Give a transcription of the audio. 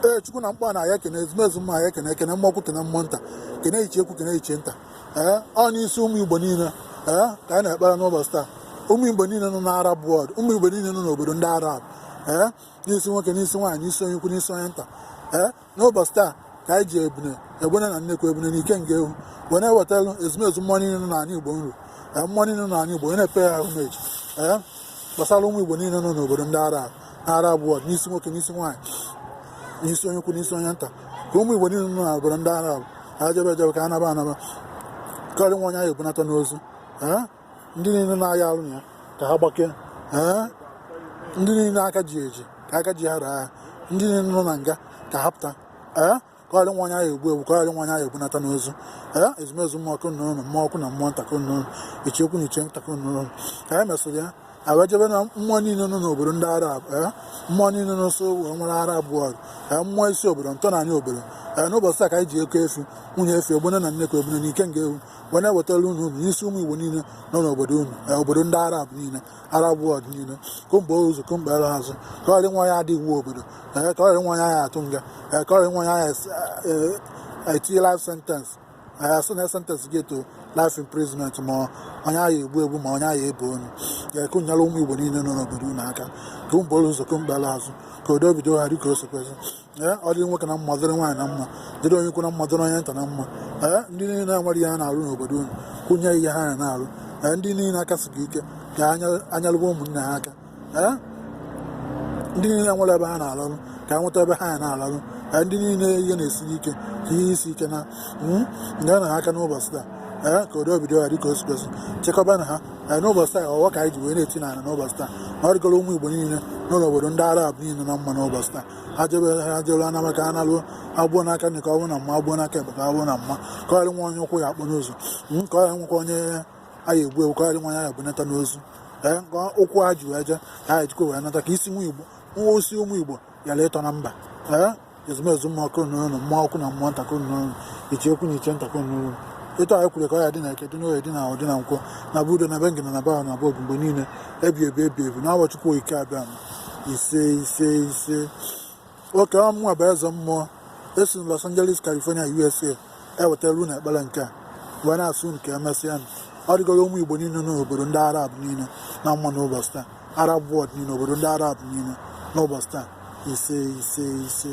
ee chukwu na mkpa na ya kene ezumezu mmụọ ya kene kene mmụọ ukwu kene mmụọ nta kene ichie ukwu kene ichie nta ee ọ n'isi ụmụ igbo niile ee ka anyị na-ekpere n'ụbọchị taa ụmụ igbo niile nọ n'arab world ụmụ igbo niile nọ n'obodo ndị arab ee n'isi nwoke n'isi nwaanyị n'isi onye ukwu n'isi onye nta ee n'ụbọchị taa ka anyị ji ebune egbene na nnekwu ebune na ikenga ewu wee na-ewetara ezumezu mmụọ niile nọ n'ala igbo nri ee mmụọ niile nọ n'ala igbo wee na-epe ya ahụ meji ee gbasara ụmụ Igbo niile nọ n'obodo ndị Arab Arab world n'isi nwoke n'isi nwaanyị n'isi onye ukwu n'isi onye nta ka ụmụ Igbo niile nọ n'obodo ndị Arab ejebe ejebe ka anaba anaba ka ọ ghara inwe onye a ya-ebunata n'ozu ndị niile na-aya arụ ọya ka ha gbakee ndị niile aka ji eji ka aka ji ha raa ndị niile nọ na nga ka ha pụta ka ọ ghara inwe onye a ya-egbu egbu ka ọ ghara inwe onye a ya-ebunata n'ozu ee ezumezu mmụọ ka unu nụlụ mmụọ ukwu na mmụọ nta ka unu nụlụ ichie ukwu na ichie nta ka unu nụlụ ka anyị mesịrị ya awa jebe na mmụọ niile nọ n'obodo ndị arab ee mmụọ niile nọ nso wee nwere arab world ee mmụọ isi obodo ntọ n'anị obodo ee n'ụbọchị taa ka anyị ji oke efi nwunye efi egbene na nnekwu ebune na ikenga ewu wee na-ewetara unu unu n'isi ụmụ igbo niile nọ n'obodo unu ee obodo ndị arab niile Arab world niile ka unu buru ụzọ ka unu kpere azụ ka ọ ghara inwe onye ya-ada iwu obodo ee ka ọ ghara inwe onye a ya-atụ nga ee ka ọrị nwa ya ya es- ee, etinye life sentence ee a sị na a sentence gị to life imprisonment ma onye a ya-egbu egbu ma onye a ya-ebe onu ee ka unu nyere ụmụ igbo niile nọ n'obodo unu aka ka unu buru ụzọ ka unu kpere azụ ka udo bido ha dịka o si kwesị ee ọ dịrị nwoke na mma dịrị nwaanyị na mma dịrị onye ukwu na mma dịrị onye nta na mma ee ndị niile na-enwerọ ihe ha na-arụ n'obodo unu ka unu nye ihe ha na-arụ ee ndị niile aka siri ike ka ha nya- ha nyalụba ụmụnne ha aka ee ndị niile enwerọ ebe ha na-alarụ ka ha nweta ebe ha na-alarụ ee ndị niile ihe na-esiri ike ka ihe isi ike na mm, nyenụ ha aka n'ụbọchị taa ee ka udo bido ha dịka o si kwesị chekwabanụ ha ee n'ụbọchị taa ọfọ ka anyị ji wee na-eti n'ala n'ụbọchị taa na ọ dịgoro ụmụ igbo niile nọ n'obodo ndị arab niile na mma n'ụbọchị taa e jebe e jelu a naba ka a nalụ agbụọ n'aka nri ka ọ bụ na mma agbụọ n'aka ekpe ka ọ bụ na mma ka ọ ghara inwe onye ụkwụ ya-akpọ n'ụzọ ka ọ ghara inwekwa onye a ya-egbu egbu ka ọ ghara inwe onye a ya-ebunata n'ozu ee ka ụkwụ ha ji wee je ka ha ejikwa wee nata ka isi nwa igbo ma isi ụmụ igbo yara ịtọ na mba ee ezumezu mmụọ ka unu nụlụ mmụọ ukwu na mmụọ nta ka unu nụlụ ichie ukwu na ichie nta ka unu nụlụ etu anyị kwuru ka ọ ya dị na eke dị n'oye dị na afọ dị na nkwọ na be udo na be ngene na be ahụ na be obi mgbe niile ebi ebi ebi ebi n'afa chukwu okike abịama ise ise ise ọ kwa mụnwa bụ eze mmụọ esi na Los Angeles California USA ewetara unu ekpere nke a wee na-asị unu ka emesịa na ọ dịgoro ụmụ Igbo niile n'obodo ndị Arab niile na mma n'ụbọchị taa Arab world niile obodo ndị Arab niile n'ụbọchị taa ise ise ise